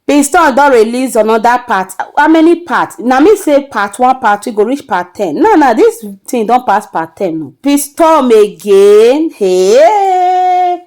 Bin Storm don release another part how many part na me say part one part two go reach part ten now now this thing don pass part ten o Bin Storm again hey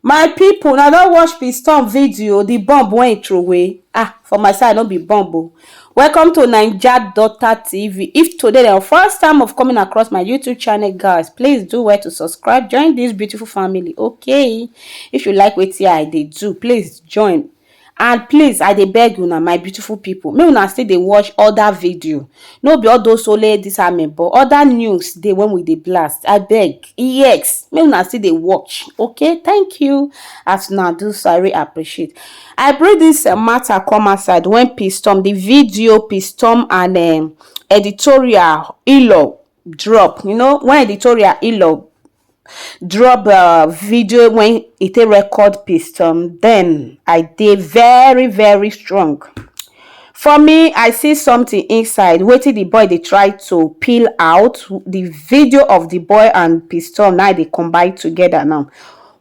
my people una don watch Bin Storm video the bomb wey he throway ah for my side no be bomb o welcome to Naija Daughter TV if today na your first time of coming across my YouTube channel guys please do well to subscribe join this beautiful family okay if you like wetin I dey do please join and please i dey beg una my beautiful people make una still dey watch other video no be all those only this army but other news dey when we dey blast i beg yes make una still dey watch okay thank you as una do so i really appreciate i bring this uh, matter come outside when pistom the video pistom and um, editorial ilo drop you know when editorial ilo drop um video when e take record piston then i dey very very strong for me i see something inside wetin the boy dey try to peel out the video of the boy and piston now dey combine together now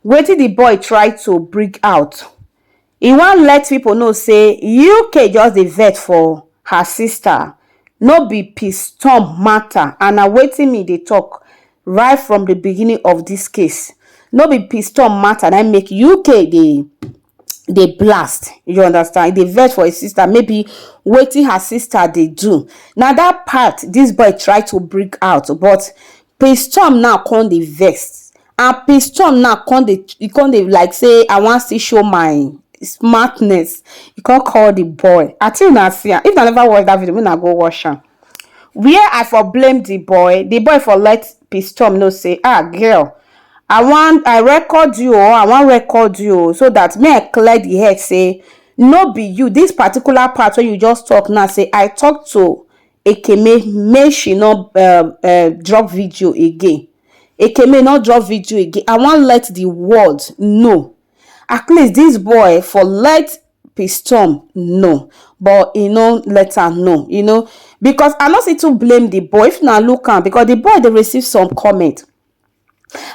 wetin the boy try to bring out E wan let pipo know say UK just dey vex for her sister, no be piston mata and na wetin me dey tok right from di beginning of dis case, no be piston mata na im make UK dey dey blast, you understand, e dey vex for im sister maybe wetin her sister dey do, na dat part dis boy try to bring out but Prince Tom now come dey vex and Prince Tom now come dey e come dey like say I wan still show my smartness. E come call the boy. I think una see am. If una never watch that video, make una go watch am. Where I for blame the boy, the boy for let Prince Tom know say, ah girl, I wan I record you oh, I wan record you oh, so that me I clear the head say no be you. This particular part wey you just talk now say I talk to Ekeme make she no um um drop video again. Ekeme no drop video again. I wan let the world know. At least this boy for let Pistom know but he no let am know you know because I no see to blame the boy if na look am because the boy dey receive some comment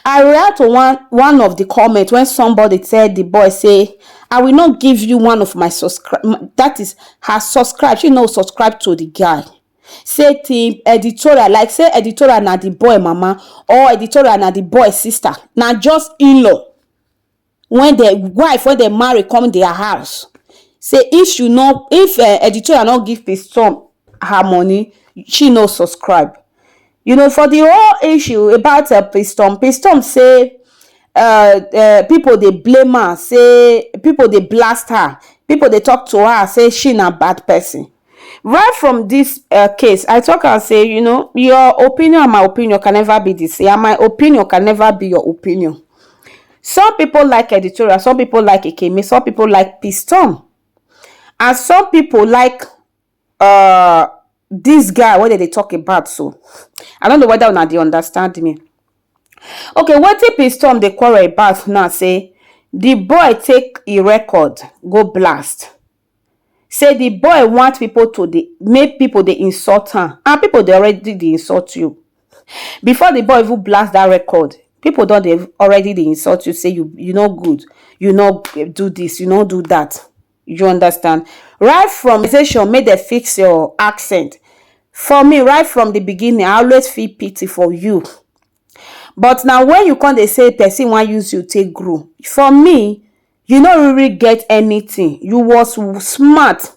I react to one one of the comment when somebody tell the boy say, I will not give you one of my subscribe, that is her subscribe, she no subscribe to the guy. Say the editorial, like say editorial na the boy mama or editorial na the boy sister, na just in-law. when the wife when they marry come their house say if she no if uh, editorial not give the storm her money she no subscribe you know for the whole issue about uh, piston piston say uh, uh, people they blame her say people they blast her people they talk to her say she na bad person right from this uh, case i talk and say you know your opinion and my opinion can never be the same and my opinion can never be your opinion some people like editorial some people like ikeme some people like piston and some people like uh this guy what did they talk about so i don't know whether or not they understand me okay what if piston they quarrel about now say the boy take a record go blast say the boy want people to dey make people dey insult am and people dey already dey insult you before the boy even blast that record people don dey already dey insult you say you you no good you no do this you no do that you understand right from station make dem fix your accent for me right from the beginning I always feel pity for you but na when you come dey say person wan use you take grow for me you no really get anything you was smart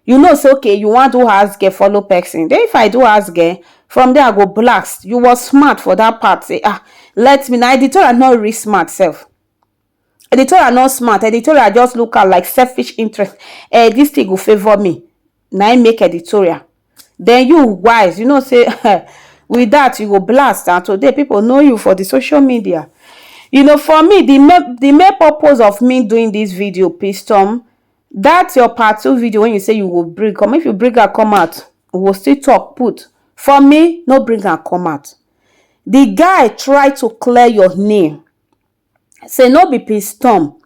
you know say okay you wan do house girl follow person then if I do house girl from there I go blast you was smart for that part say ah let me na editorial no really smart sef Editorial no smart, editorial just look am like selfish interest, um dis thing go favour me na im make editorial. Den you wise you know sey um with dat you go blast and today pipu know you for de social media. You know for me de main de main purpose of me doing dis video pistom dat your part two video wey you sey you go bring come if you bring am come out we go still talk put, for me no bring am come out. De guy try to clear your name say no be peace tom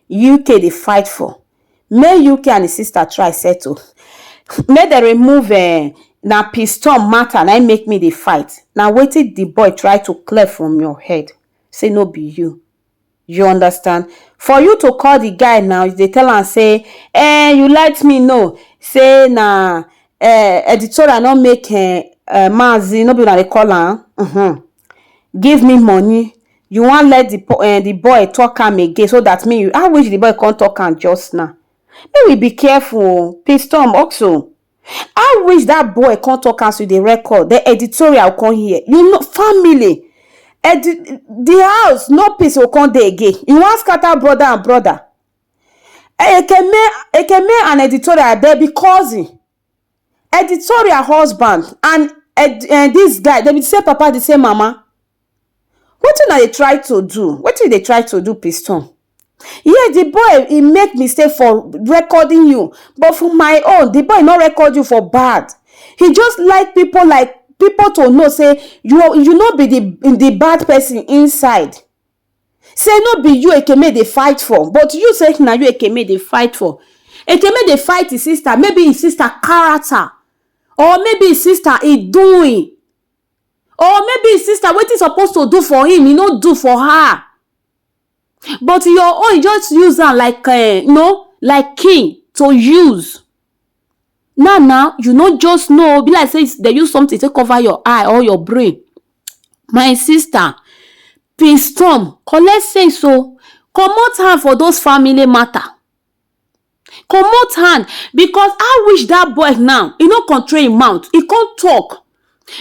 uk dey fight for, make uk and di sister try settle, make dem remove um na peace tom matter na im make me dey fight, na wetin di boy try to clear from your head say no be you, you understand. For you to call di guy now you dey tell am say um you let me know say na um editorial no make um maazi no be una dey call am um. give me money you wan let the um the boy talk am again so that me you how which the boy come talk am just now make we be careful o pistom oxo how which that boy come talk am so the record the editorial come hear you know family edi the house no peace go come dey again you wan scatter brother and brother ekeme ekeme and editorial dem be cousin Editorial husband and um dis guy dem be the same papa the same mama wetin una dey try to do wetin you dey try to do piston yes the boy he make mistake for recording you but for my own the boy no record you for bad he just like people like people to know say you you no be the the bad person inside. Say no be you Ekeme dey fight for but you say na you Ekeme dey fight for. Ekeme dey fight his sister maybe his sister character or maybe his sister e doing or maybe his sister wetin suppose to do for him e no do for her but your own you just use am like um you know like king to use. Now now, you no just know, be like say they use something to cover your eye or your brain. My sister, Prince Storm, collect sense o. Oh. Comot hand for those family matter. Comot hand because I wish that boy now, he no control him mouth, he can't talk.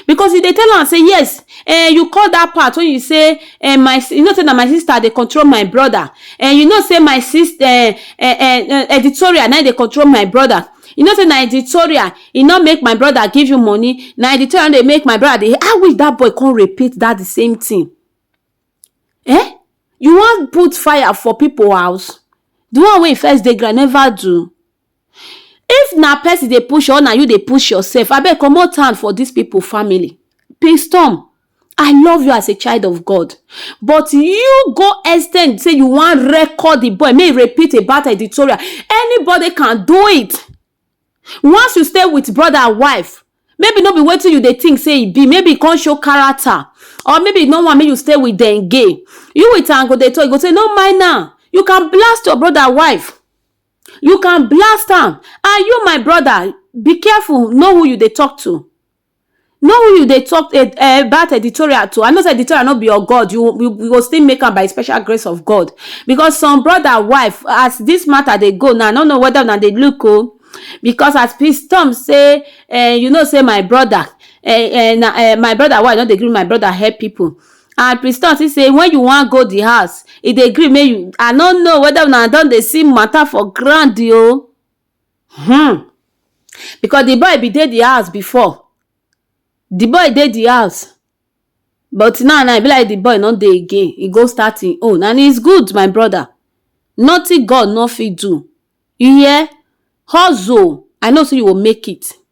Because he dey tell am say yes um you call that part wey you say um my you know say na my sister dey control my brother um you know say my sister um um editorial na him dey control my brother you know say na editorial e no make my brother give you money na editorial no dey make my brother dey how wish that boy come repeat that the same thing um you wan put fire for people house the one wey e first dey ground never do If na person dey push you or na you dey push yourself abeg comot hand for this people family pinstorm I love you as a child of God but you go extend say you wan record the boy make he repeat a bad editorial anybody can do it once you stay with brother and wife maybe no be wetin you dey think say e be maybe he come show character or maybe he no want make you stay with them again you with am go dey talk you go say no mind am you can blast your brother wife You can blast am Are you my brother Be careful know who you dey talk to Know who you dey talk eh, eh, about editorial to I know say editorial no be your God you, you, you go still make am by special grace of God because some brother wife as this matter dey go now I no know whether una dey look o because as peace tom say eh, you know say my brother eh, eh, na, eh, my brother why i no dey gree my brother help people and priscilla still say when you wan go di house e dey gree make you i no know whether una don dey see matter for ground o hmm because the boy bin dey the house before the boy dey the house but now now e be like the boy no dey again e go start him own and it's good my brother nothing God no fit do you hear hustle I know say you go make it.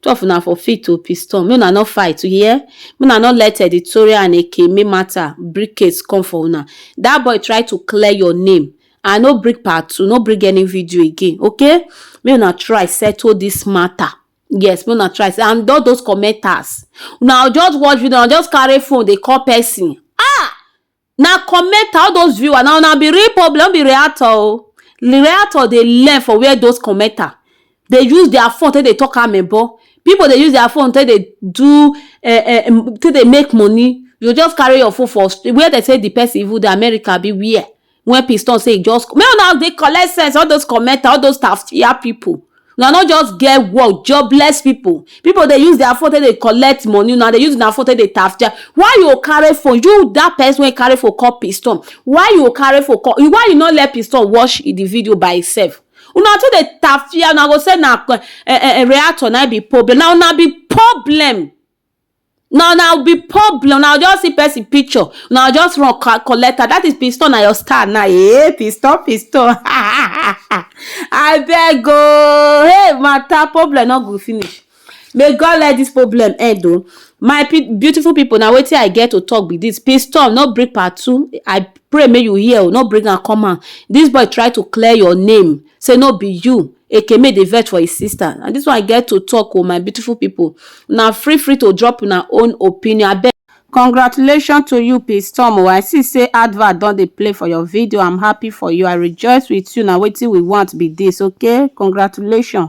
Two of una for fit to piston, make una no fight u hear, make una no let editorial and ekeme matter bring case come for una, that boy try to clear your name, I no bring part two, no bring any video again okay, make una try settle this matter, yes make una try and all those commenters una go just watch video una go just carry phone dey call person ah! Na commenter, all those viewers, na una be real problem, no be reactor o. Reactor dey learn for where those commenter dey use their phone take dey talk amebo. People dey use their phone take dey do um um take dey make money. You go just carry your phone for street, where dem say the person even dey, America abi where? When piss turn say e just, make una dey collect sense, all those commenter, all those taftia people. una no just get work jobless people people dey use their phone take dey collect money una dey use una phone take dey tafja why you go carry phone you that person wey carry phone call piston why you go carry phone call why you no let piston watch the video by himself una too dey tafia una go say na eh, eh, eh, reactor na be problem na una be problem na una be problem una just see person picture una just run collect am that is piston na your star na eh piston piston abeg oo hey matter problem no go finish may God let this problem end o my beautiful people na wetin I get to talk be this piston no bring part two I pray make you hear o no bring am come out this boy try to clear your name Say no be you Ekeme dey vex for his sister na this one I get to talk o my beautiful people una free free to drop una own opinion abeg. Congratulations to you Pstorm o, I see say advert don dey play for your video, I'm happy for you, I rejoice with you, na wetin we want be this okay, congratulations